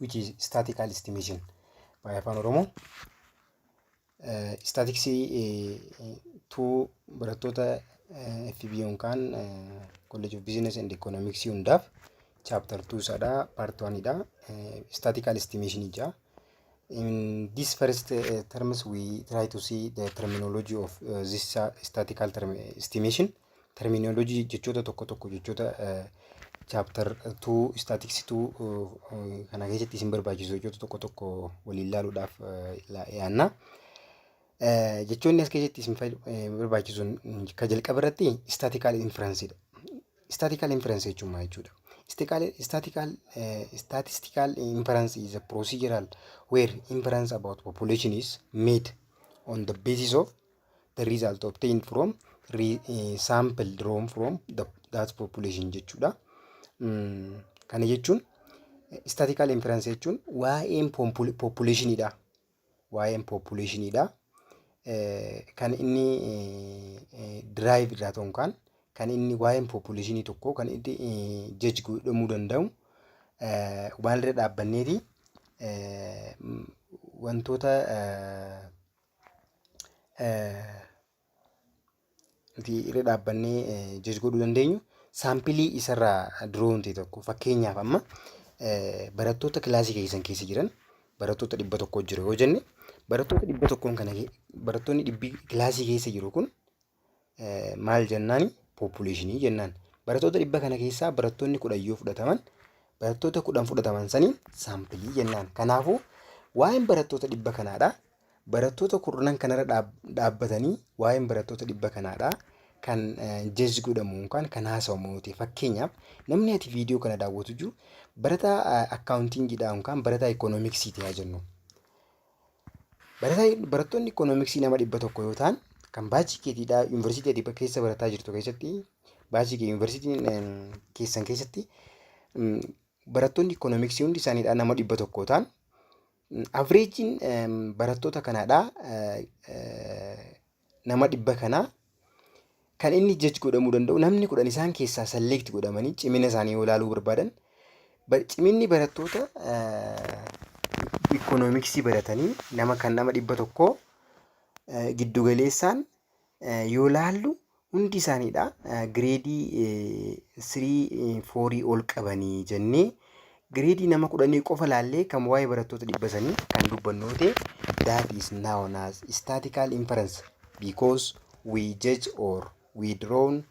which is statical estimation by afaan oromoo istaatiksii tuu barattoota FB yookaan college of business and economics hundaaf chapter 2 sadha part 1 dha statical estimation ija in this first uh, terms we try to see the terminology of uh, this uh, statical term estimation terminology jechoota tokko tokko jechoota chapter 2 statics 2 kana keessatti isin barbaachisu jechoota tokko tokko waliin ilaaluudhaaf yaanna. Jechoonni as keessatti isin barbaachisuun kan jalqaba irratti statical inference dha. Statical inference jechuun maal jechuudha? Statical statistical inference is a procedural where inference about population is made on the basis of the result obtained from re, eh, sample drawn from the, that population jechuudha. Mm, kana jechuun statistical inference jechuun waa'een popul- populationidha. Waa'een populationidha. Eh, kan inni eh, eh, drive irraa ta'uun kan kan inni waa'een populationii tokko kan inni eh, judge godhamuu danda'u eh, waan irra dhaabbanneeti eh, m- wantoota eh, nuti irra dhaabbannee jaj godhuu dandeenyu saampilii isarraa duroo hin ta'e tokko fakkeenyaaf amma barattoota kilaasii keessan keessa jiran barattoota dhibba tokko jiru yoo jenne barattoota dhibba tokkoon kana barattoonni dhibbi kilaasii keessa jiru kun maal jennaan population jennaan. Barattoota dhibba kana keessaa barattoonni kudhan yoo fudhataman barattoota kudhan fudhataman saniin saampilii jennaan. Kanaafuu waa'een barattoota dhibba kanaadha. Barattoota kurnan kanarra dhaabbatanii waa'een barattoota dhibba kanaadha. Kan jees godhamu yookaan kan haasawamu yoo ta'e fakkeenyaaf namni ati viidiyoo kana daawwatu jiru barataa akkaawuntiingiidha yookaan barataa ikoonomiksii ta'aa jennu. Barataa barattoonni ikoonomiksii nama dhibba tokko yoo ta'an kan baachii keetiidhaa yuunivarsiitii ati keessa barataa jirtu keessatti baachii kee yuunivarsiitiin em, keessan keessatti em, barattoonni ikoonomiksii hundi isaaniidhaa nama dhibba tokko yoo ta'an avreejiin barattoota kanaadhaa eh, eh, nama dhibba kanaa kan inni jaj godhamuu danda'u namni kudhan isaan keessaa salleekti godhamanii cimina isaanii yoo ilaaluu barbaadan ciminni barattoota ikoonomiksii baratanii nama kan nama dhibba tokkoo giddugaleessaan yoo laallu hundi isaaniidha gireedii sirii foorii ol qabanii jennee Gireedii nama kudhanii qofa laallee kan waa'ee barattoota dhibba sanii kan dubbannu yoo ta'e that is known as statical inference because we judge or we drawn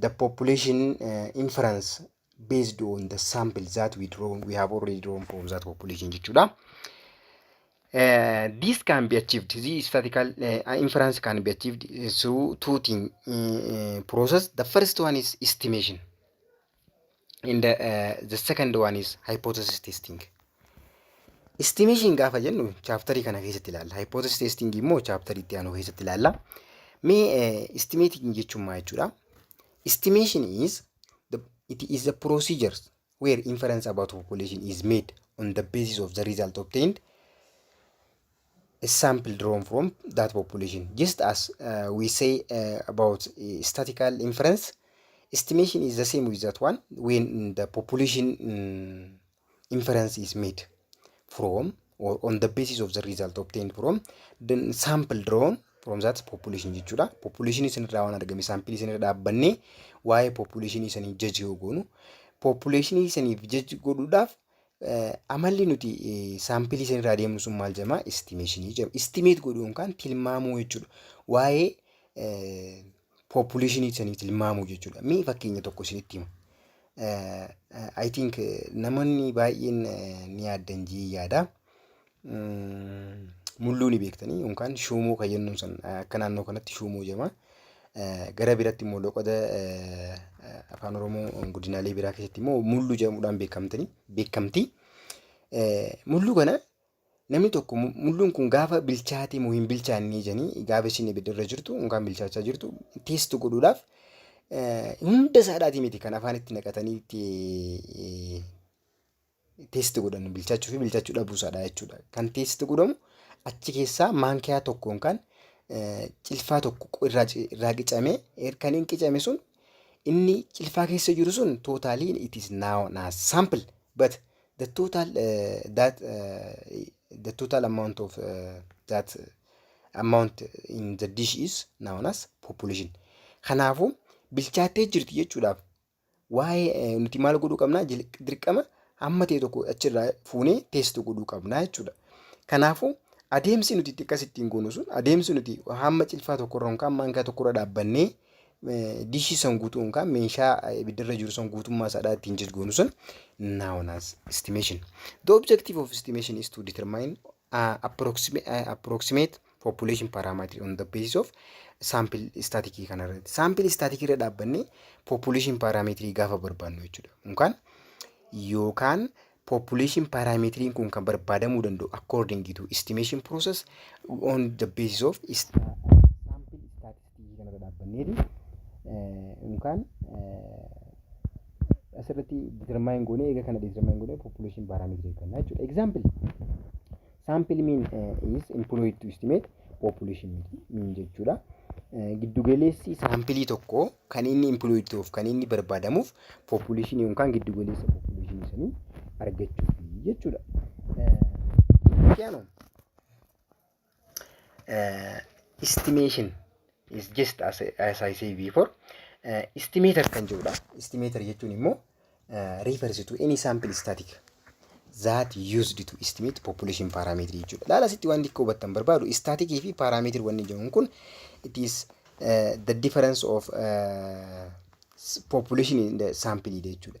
the population uh, inference based on the sample that we drawn we have already drawn from that population jechuudha. Uh, this can be achieved. This statical uh, inference can be achieved through two thing uh, process. The first one is estimation. and uh, the second one is hypothesis testing estimation gaafa jennu chaaptarii kana keessatti ilaalla hypothesis testing immoo chaaptarii itti aanu keessatti ilaalla mee uh, estimating jechuun maa jechuudha estimation is the, it is the procedure where inference about population is made on the basis of the result obtained sample drawn from that population just as uh, we say uh, about uh, statistical inference estimation is the same with that one when the population mm, inference is made from or on the basis of the result obtained from the sample drawn from that population jechuudha population isinirraa waan argame sample isinirra dhaabbannee waa'ee population isanii judge yoo goonu population isaniif judge godhuudhaaf Amalli nuti saampilii san irraa deemnu sun maal jedhama? Istimeeshinii jedhama. Istimeet godhuu yookaan tilmaamuu jechuudha. Waa'ee population sanii tilmaamuu jechuudha. Mee fakkeenya tokko isinitti hima. I think namoonni baay'een ni yaaddan jee yaada. mulluu ni beektanii yookaan shuumuu kan jennuun san akka naannoo kanatti shuumuu jedhama. Gara biratti immoo loqoda afaan oromoo godinaalee biraa keessatti immoo mulluu jedhamuudhaan beekamtanii beekamtii. Mulluu kana namni tokko mulluun kun gaafa bilchaatee moo hin bilchaannee jedhanii gaafa isin ibidda irra jirtu yookaan bilchaachaa jirtu teestu godhuudhaaf hunda isaadhaatii miti kan afaan itti naqatanii itti teesti godhan bilchaachuu fi bilchaachuu dhabuu isaadha jechuudha. Kan teesti godhamu achi keessaa maankiyaa tokko yookaan cilfaa tokko irraa irraa qicamee er- kan hin qicame sun inni cilfaa keessa jiru sun totally it is now na sample but the total uh, that uh, the total amount of uh, that amount in the dish is known as population. Kanaafuu bilchaattee jirti jechuudhaaf waa'ee nuti maal godhuu qabna dirqama hamma ta'e tokko achirraa fuunee teessu godhuu qabna jechuudha. Kanaafuu adeemsi nuti itti akkas ittiin goonu sun adeemsi nuti hamma cilfaa tokkorra yookaan maankaa tokkorra dhaabbannee dishii san guutuu yookaan meeshaa ibiddarra jiru san guutummaa isaadhaa ittiin jijgoonu sun known as estimation. The objective of estimation is to determine uh, approximate, uh, approximate population parameter on the basis of sample static kana irratti sample static irra dhaabbanne population parameter gaafa barbaannu jechuudha yookaan yookaan population parameter kun kan barbaadamuu danda'u according to estimation process on the basis of sta- sample static strategy kanarra dhaabbanneeti yookaan asirratti determine goonee eega kana determine goonee population parameter eegganna jechuudha. Example sample mean is employed to estimate population mean jechuudha. Giddugaleessi saampilii tokko kan inni employed ta'uuf kan inni barbaadamuuf population yookaan giddugaleessa population sanii argachuuf jechuudha. Kiyano. uh, estimation is just as, as I say before uh, estimator kan jedhudha. Estimator jechuun immoo uh, refers to any sample static that used to estimate population parameter jechuudha. Laala asitti waan xiqqoo hubattan barbaadu static fi parameter wanni jedhamu kun it is uh, the difference of uh, s- population in the sample jechuudha.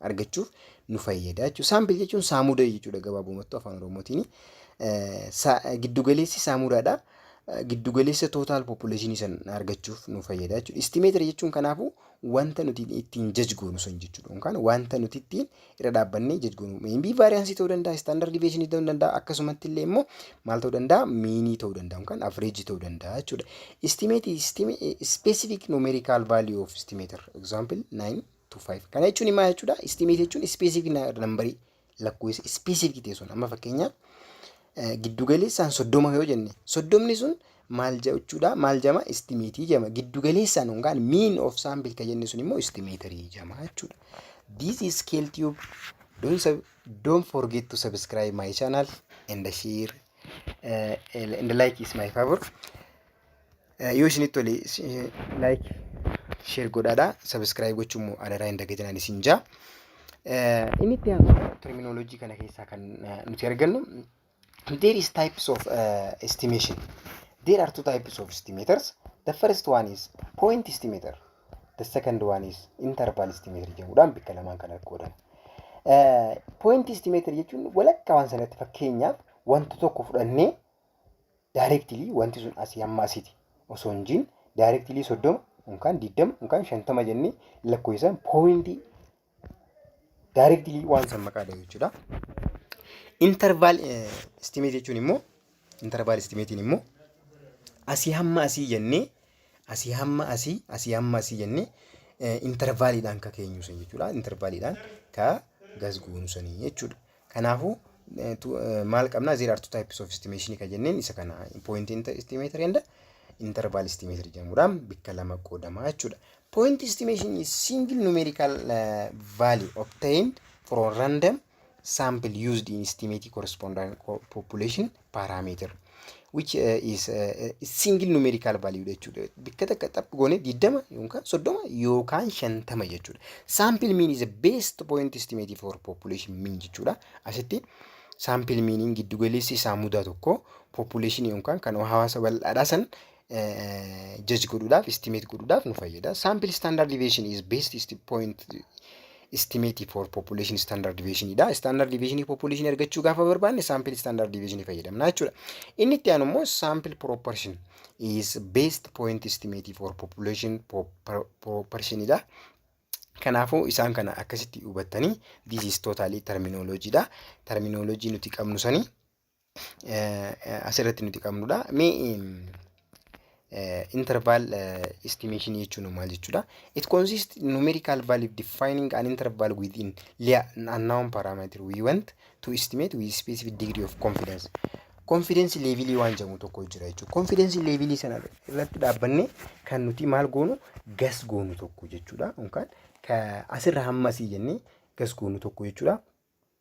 argachuuf nu fayyada jechuudha. Saampil jechuun saamuda jechuudha gabaabumattuu afaan oromootiin. Giddugaleessi saamudaadha. Giddugaleessa tootaal population san argachuuf nu fayyada jechuudha. Istimeetira jechuun kanaafuu wanta nuti ittiin jaj goonu san jechuudha. Yookaan wanta nuti ittiin irra dhaabbannee jaj goonu. Meembii vaariyaansii ta'uu danda'a, istaandard diiveeshinii ta'uu danda'a, akkasumatti illee immoo maal ta'uu danda'a? Miinii ta'uu danda'a yookaan avreejii ta'uu danda'a jechuudha. Istimeetii ispeesifik numeerikaal vaaliyuu of istimeetir. Egzaampil 9 to 5. Kana jechuun maal jechuudha? Estimate jechuun specific nambarii lakkoofsa specific ta'e sun amma fakkeenyaaf giddugaleessaan soddoma yoo jenne soddomni sun maal jechuudha? Maal jama? Estimate jama. Giddugaleessaan yookaan mean of sample kan jenne sun immoo estimatorii jama jechuudha. This is scale tube. Don't, sub, don't forget to subscribe my channel and share uh, and like is my favor. Eh, Yoo isinitti tole like share godhaadha subscribe gochuun immoo adaraa hin dagatinaan isin jaa. Eh, Inni itti aanu terminology kana keessaa kan eh, nuti argannu there is types of eh, estimation. There are two types of estimators. The first one is point estimator. The second one is interval estimator jedhamuudhaan bakka lamaan kan qoodama. Eh, Point estimator jechuun walakkaa waan sanatti fakkeenyaaf wanta tokko fudhannee Directly wanti sun asii hamma asiti osoo hin jiin directly soddoma yookaan digdama yookaan shantama jennee lakkoofsaan poointii directly waan san maqaa dhahu jechuudha. Interval eh, estimate jechuun immoo interval estimatein immoo asii hamma asii jennee asii hamma asii asii hamma asii jennee eh, intervaliidhaan ka keenyu san jechuudha. Intervaliidhaan ka gasguunu sanii jechuudha. Kanaafuu maal qabna there are two types of estimation kan jenneen isa kana point estimator and interval estimator jedhamuudhaan bakka lama qoodama jechuudha. Point estimation is single numerical uh, value obtained from random sample used in estimating corresponding population parameter which uh, is uh, single numerical value jechuudha bakka takka xaph goone 20 yookaan 30 yookaan 50 jechuudha sample mean is a best point estimate for population mean jechuudha asitti sample meaniin giddu galeessi isaa mudaa tokko population yookaan kan hawaasa bal'aadhaa san jaj godhuudhaaf estimate godhuudhaaf nu fayyada. Sample standard deviation is best esti- point estimate for population standard deviation dha. Standard deviation population argachuu gaafa barbaanne sample standard deviation fayyadamna jechuudha. Inni itti aanu immoo sample proportion is best point estimate for population po- pro- proportion dha. Kanaafuu isaan kana akkasitti hubattanii this is totally terminology dha. Terminology nuti qabnu sanii asirratti nuti qabnudha. Mee interval estimation jechuun maal jechuudha? It consists in numerical value defining an interval within an unknown parameter we want to estimate with specific degree of confidence. Confidence level waan jedhamu tokko jira jechuudha. Confidence level sana irratti dhaabbanne kan nuti maal goonu gas goonu tokko jechuudha. Yookaan asirra hammasii jennee gas goonu tokko jechuudha.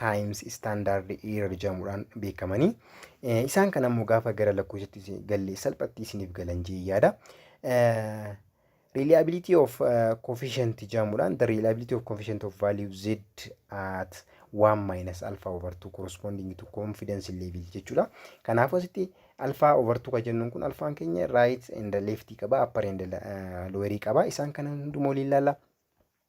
Times Standard Error jedhamuudhaan beekamanii. Eh, Isaan kana immoo gaafa gara lakkoofsatti isin- galle salphatti isiniif galan jee yaada. Eh, Reliability of eh, coefficient jedhamuudhaan the reliability of coefficient of value z at 1 minus alpha over 2 corresponding to confidence level jechuudha. Kanaafuu asitti alpha over 2 kan jennuun kun alfaan keenya right and left qaba upper and eh, lower qaba. Isaan kana hundumaa waliin ilaalla.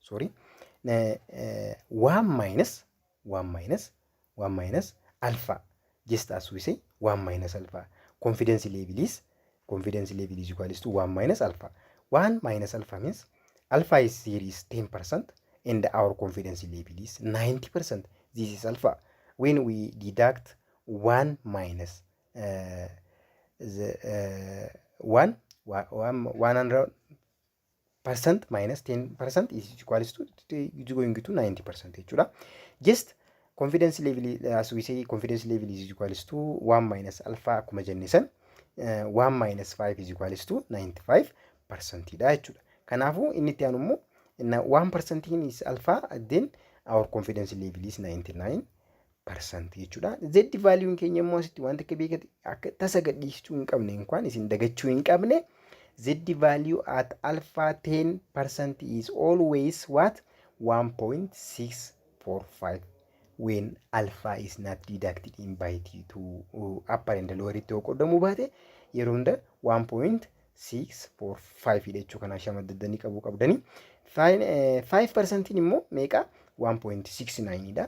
sorry waan maayinas waan maayinas waan maayinas alfaa just as we say waan maayinas alfaa confidence level is confidence level is equals to waan maayinas alfaa waan maayinas alfaa means alfaa is here is 10 percent and our confidence level is 90 percent this is alpha when we deduct one minus uh, the uh, one one one hundred percent minus 10 percent is equal to is going to 90 percent jechuudha. Just confidence level as we say confidence level is equal to 1 minus alpha akkuma jenne san 1 minus 5 is equal to 95 percent dha jechuudha. Kanaafuu inni itti aanu immoo 1 percent is alpha then our confidence level is 99 parsantii jechuudha. Z vaaliiwuun keenya immoo asitti wanta akka beekati akka tasa gadhiisuu hin qabne inkwaan isin dagachuu hin qabne. Z value at alpha 10 percent is always what 1.645 when alpha is not deducted in by t2 upper and lower itti yoo qoodamuu baate yeroo hunda 1.6 6 4 5 dha jechuu kanaa shama daddanii qabuu qabdanii 5 parsantiin immoo meeqa 1.69 dha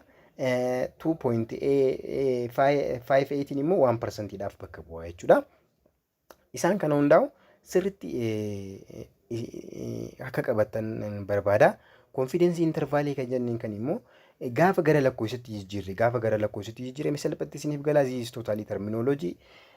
2.58 immoo 1 parsantiidhaaf bakka bu'aa jechuudha isaan kana hundaa'u sirritti akka qabatan barbaada konfiidensii intarvaalii kan jenneen kan immoo gaafa gara lakkoofsatti jijjiirre gaafa gara lakkoofsatti jijjiirame salphatti isiniif galaa ziis tootaalii terminoloojii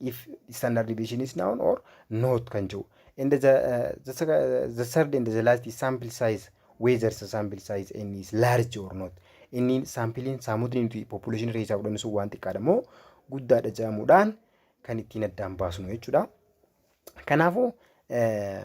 if standard deviation is known or not kan jedhu and the, the, sec- the third and the last is sample size whether the sample size n is large or not inni saampiliin saamudni nuti population keessaa fudhannu sun waan xiqqaadha moo guddaadha jedhamuudhaan kan ittiin addaan baasnu jechuudha. Kanaafuu eh,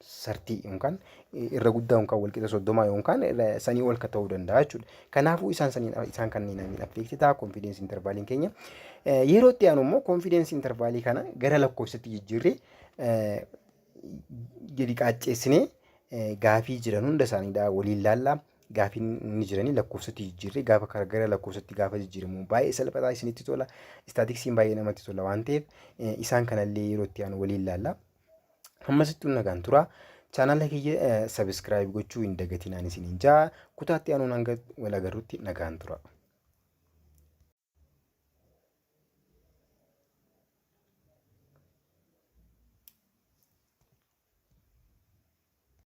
sartii yookaan irra guddaa yookaan walqixa soddoma yookaan sanii ol ka ta'uu danda'a jechuudha. Kanaafuu isaan saniin isaan kanneen amiin affeeksitaa konfiideensi intervaaliin keenya. Yeroo itti aanu immoo konfiideensi intervaalii kana gara lakkoofsatti jijjiirree gadi qaacceessinee gaafii jiran hunda isaaniidha waliin laallaa. Gaafiin inni jiranii lakkoofsatti jijjiirree gaafa karaa gara lakkoofsatti gaafa jijjiiramu baay'ee salphataa isinitti tola. Istaatiksiin baay'ee namatti tola waan ta'eef isaan kanallee yeroo itti aanu waliin laallaa. Hammasittuu nagaan tura. Chaanala kiyya sabiskiraayib gochuu hin dagatinaan isin hin jaa. Kutaatti anuun hanga wal agarrutti nagaan tura.